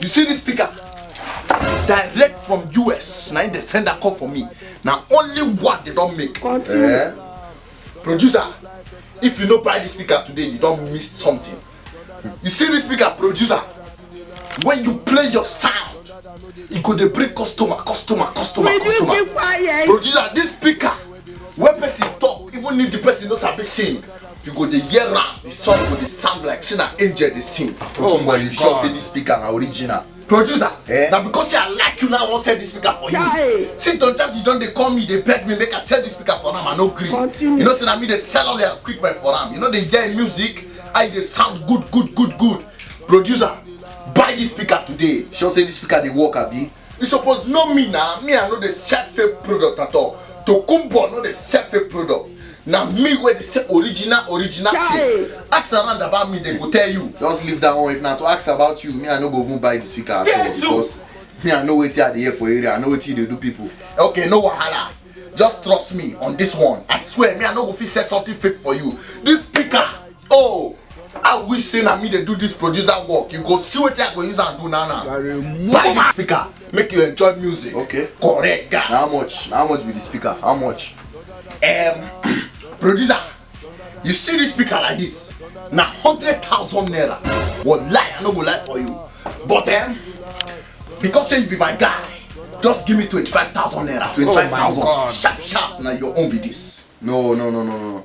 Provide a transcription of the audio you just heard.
you see this speaker direct from us na im dey send am come for me na only one dey don make eh? producer if you no buy this speaker today you don miss something you see this speaker producer when you play your sound e go dey bring customer customer customer Will customer you keep quiet? producer this speaker wey person talk even if the person no sabi sing you go dey hear am the song go dey sound like say na angel dey sing oh my god you sure say this speaker na original producer eh? na because say i like you now i wan sell this speaker for you see don just you don dey call me dey beg me make i sell this speaker for am i no gree you know say na me dey sell all your equipment for am you no dey hear music i dey sound good good good good producer buy this speaker today sure say this speaker dey work abi you suppose know me na me i no dey sell fake product at all tokumbo no dey sell fake product na me wey dey sell original original thing ask around about me dem go tell you just leave that one if na to ask about you me i no go even buy the speaker at all because me i know wetin i dey hear for area i know wetin you dey do people okay no wahala just trust me on this one i swear me i no go fit sell something fake for you this speaker oh i wish say na me dey do this producer work you go see wetin i go use am do now now buy the speaker make you enjoy music okay correct guy how much how much be the speaker how much um, producer you see this speaker like this na hundred thousand naira wallahi i no go lie for you but um, because say you be my guy just give me twenty-five thousand naira twenty-five thousand sharp sharp na your own be this. no no no no no